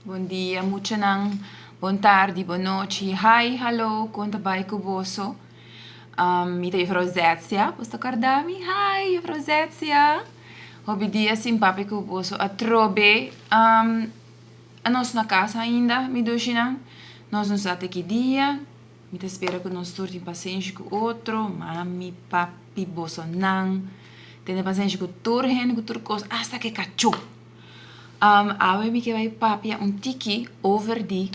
Bon dia muchanan, bon tardi, bon nochi, hi, hallo, kon ta bai ku boso? Mi ta Jufrou Zetzia, boso ta kòrda mi? Hi, Jufrou Zetzia! Hopi dia sin papia ku boso atrobe. Anos na kasa ainda, mi dushinan? Nos no sa te ki dia, mi ta spera ku nos tur tin pasenshi ku otro, mami, papi, bosonan. Tene pasenshi ku tur hende, ku tur kos, asta ku e kachó! Am, awe mi ke bai papia un tiki over di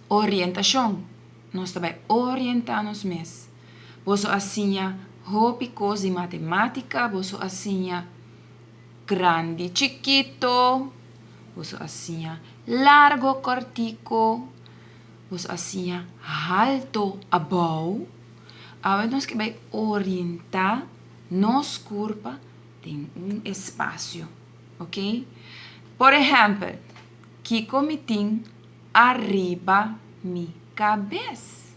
orientashon. Nos ta bai orientá nos mes. Boso a siña hopi kos di matematika, boso a siña grandi chikito, boso a siña largo kòrtiko, boso a siña halto abou. Awe nos ke bai orientá nos kurpa den un espasio. Ok? Por ehempel, kiko mi tin ariba mi kabes?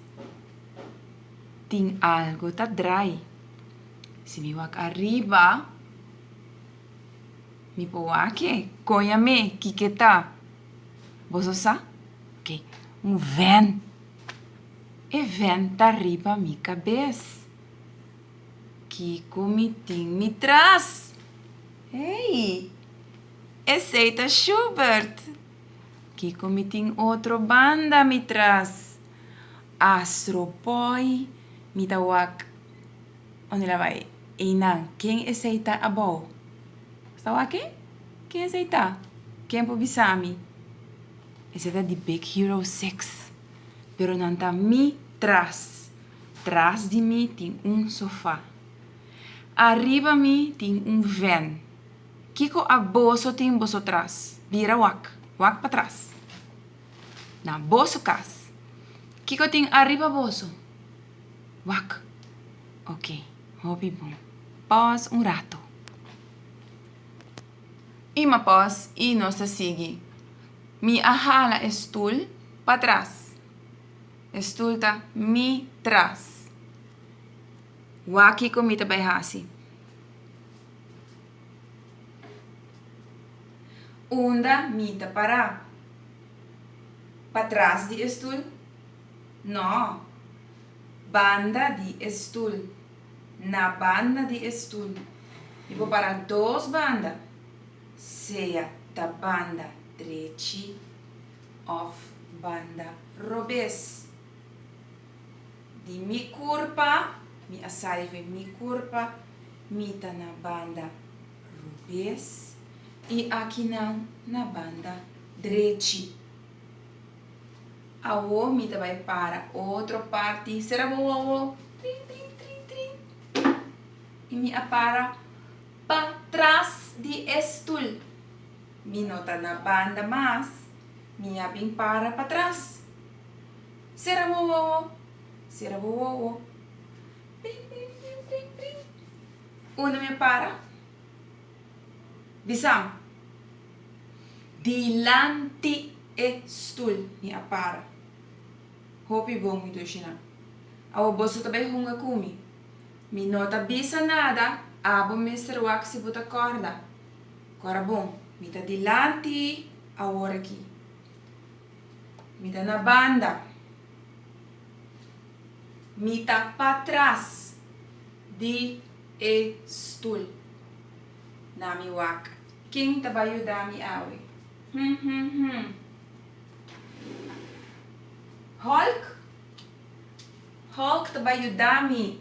Tin algo ta drai. Si mi wak ariba, mi por wak-e. Kon a me? Kiko ta? Boso sa? Ok, un ven. E ven ta riba mi kabes. Kiko mi tin mi tras? Hey! Esey ta Shubert! Kiko mi tin otro banda mi tras? A stropoy mi ta wak. Unda el a bai? Eynan, ken esey ta abou? Sta wak-e? Ken esey ta? Ken por bisa mi? Esey ta di Big Hero 6. Pero nan ta mi tras. Tras di mi tin un sofa. Ariba mi tin un ven. Kiko aboso tin boso tras? Bira wak, wak patras. Na boso kas. Kiko tin ariba boso? Wak. Ok, hopi bon. Pos un rato. I ma pos i nos ta sigui. Mi a hala e stul patras. E stul ta mi tras. Wak kiko mi ta bai hasi. Unda mi ta pará? Patras di e stul? No. Banda di e stul. Na banda di e stul. Mi por pará dos banda, sea ta banda drechi òf banda robes. Di mi kurpa, mi a saive mi kurpa, mi ta na banda rubes i akinan na banda drechi. Awo mi ta bai para otro parti, sera bo wowo, trin, trin, trin, trin, i mi a para pa tras di e stul. Mi no ta na banda mas, mi a bin para patras. Sera bo wowo, sera bo wowo. Pring, pring, pring, pring, pring. Unda mi a para? Bisam. Dilanti e stul mi a para. Hopi bon, mi dushi nan. Awo boso ta bai hunga ku mi. Mi no ta bisa nada, abo mester wak si bo ta kòrda. Kora bon, mi ta dilanti awor aki. Mi ta na banda. Mi ta patras di e stul. Na mi wak, ken ta bai yuda mi awe? Hm, hm, hm. Hulk? Hulk ta bai yuda mi.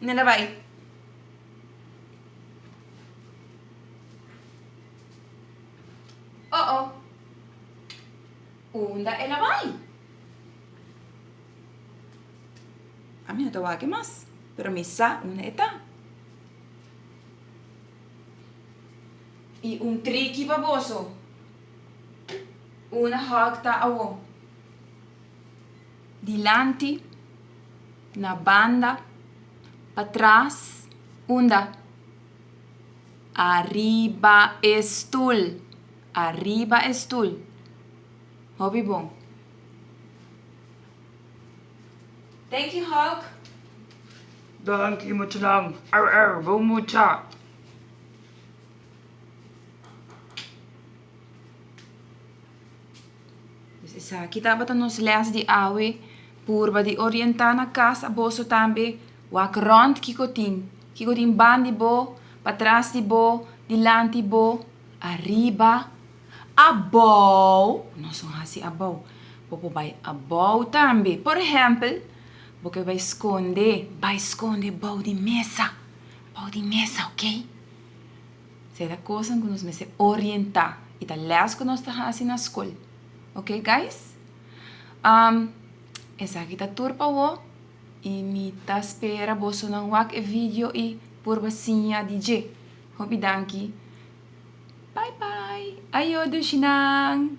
Nena bai. Oh oh. Unda el a bai? Ami no ta wak e mas, pero mi sa unda e ta. I un triki pa boso. Una hug ta awo. Dilanti, na banda, pa tras, unda? Ariba e stul, ariba e stul. Hopi bon. Thank you, Hulk. Danki muchanan, arr arr, bon mucha. Esaki tabata nos lès di awe, purba di orientá na kas a boso tambe, wak rònt kiko tin, kiko tin ban di bo, patras di bo, dilanti bo, ariba, abou, nos no hasi abou, bo por bai abou tambe, por ehèmpel, bo ke bai skonde, bai skonde bou di mesa, bou di mesa, ok. Sea ta cosnan cu nos mester orienta y ta les cu nos ta haci na scol. Ok guys? Um, esaki ta tur pa wo y mi ta spera bosonan wak e video y purba siña di dje. Hopi danki. Bye bye. Ayo Dushinan!